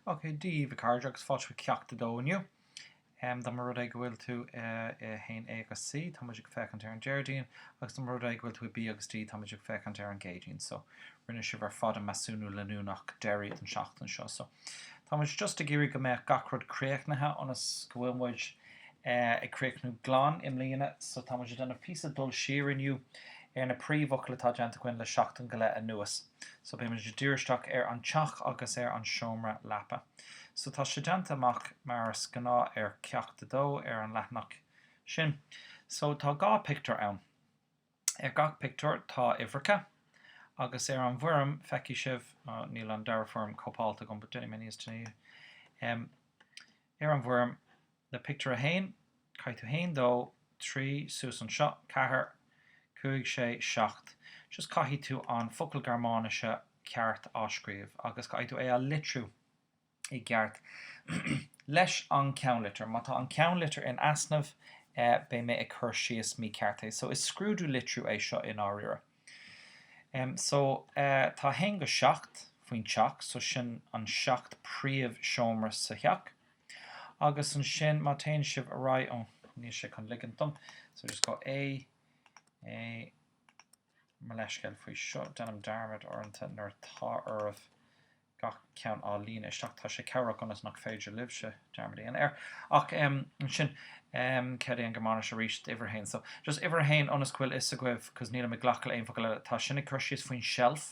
Okay, daoibh a chairde agus fáilte chuig Ceacht 2 inniu. Um, dá mba rud é go bhfuil tú uh, i 1A agus C, tá muid ag féachaint ar an Déardaoin, agus dá mba rud é go bhfuil tú i B agus D, tá muid ag féachaint ar an gCéadaoin. So, rinne sibh ar fad an measúnú leanúnach deiridh an seachtain seo. So, tá muid just ag iarraidh go mbeadh gach rud críochnaithe ionas go bhfuil muid uh, ag críochnú glan i mbliana. So, tá muid ag déanamh píosa dul siar inniu ar na príomhfhocail atá déanta againn le seachtain go leith anuas. So beimid ag díriú isteach ar an teach agus ar an seomra leapa. So tá sé déanta amach mar is gnáth ar Ceacht 2 ar an leathanach sin. So tá dhá pictiúr ann. Ar gach pictiúr tá uimhreacha agus ar an bhfoirm feicfidh sibh, nó níl an dara foirm cóipeáilte agam but déanfaidh mé níos déanaí, ar an bhfoirm le pictiúr a haon, caithfidh tú haon, dó, trí, suas anseo, ceathair, cúig, sé, seacht, just caithfidh tú an focal Gearmáinise ceart á scríobh agus caithfidh tú é a litriú i gceart leis an ceannlitir. Má tá an ceannlitir in easnamh beidh mé ag cur síos mícheart é. So is scrúdú litriú é seo i ndáiríre. Em, so, tá 1-7 faoin teach so sin an seacht príomh seomra sa theach. Agus ansin má téann sibh ar aghaidh, ó níl sé chun ligint dom, so just go A, A, mo leithscéal faoi seo, déanaim dearmad uaireanta nuair atá oraibh gach ceann á líonadh isteach, tá sé cabhrach ionas nach féidir libhse dearmad a dhéanamh air. Ach ansin, céard é an Gearmáinis arís d'uimhir a haon? So just uimhir a haon ionas go bhfuil fhios agaibh, cos nílim ag glacadh le aon focal eile, tá sin ag cur síos faoin seilf.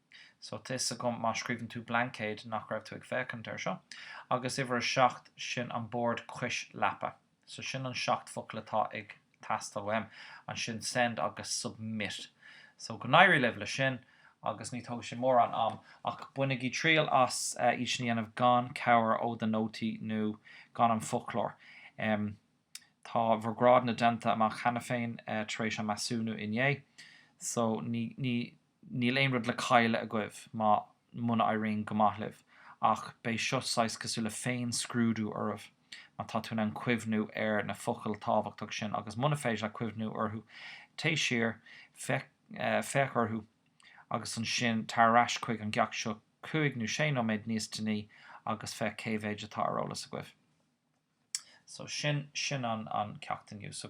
so tá fhios agam má scríobhann tú blaincéad nach raibh tú ag féachaint ar seo, agus uimhir a seacht, sin an bord cois leapa, so sin an seacht focal atá ag teastáil uaim, ansin send agus submit. So go n-éirí libh leis sin, agus ní tógfaidh sé mórán am, ach bainigí triail as iad sin a dhéanamh gan cabhair ó do nótaí nó gan an foclóir. Tá bhur grádanna déanta amach cheana féin tar éis an measúnú inné, so ní, ní, Níl aon rud le cailleadh agaibh má, muna éiríonn go maith libh, ach beidh seo saghas cosúil le féin-scrúdú oraibh, má tá tú in ann cuimhniú ar na focail tábhachtach sin, agus muna féidir leat cuimhniú orthu, téigh siar, féach orthu, agus ansin tar ar ais chuig an gceacht seo cúig nó sé nóiméad níos déanaí agus féach cé mhéid atá ar eolas agaibh. So sin, sin an, an ceacht inniu. So.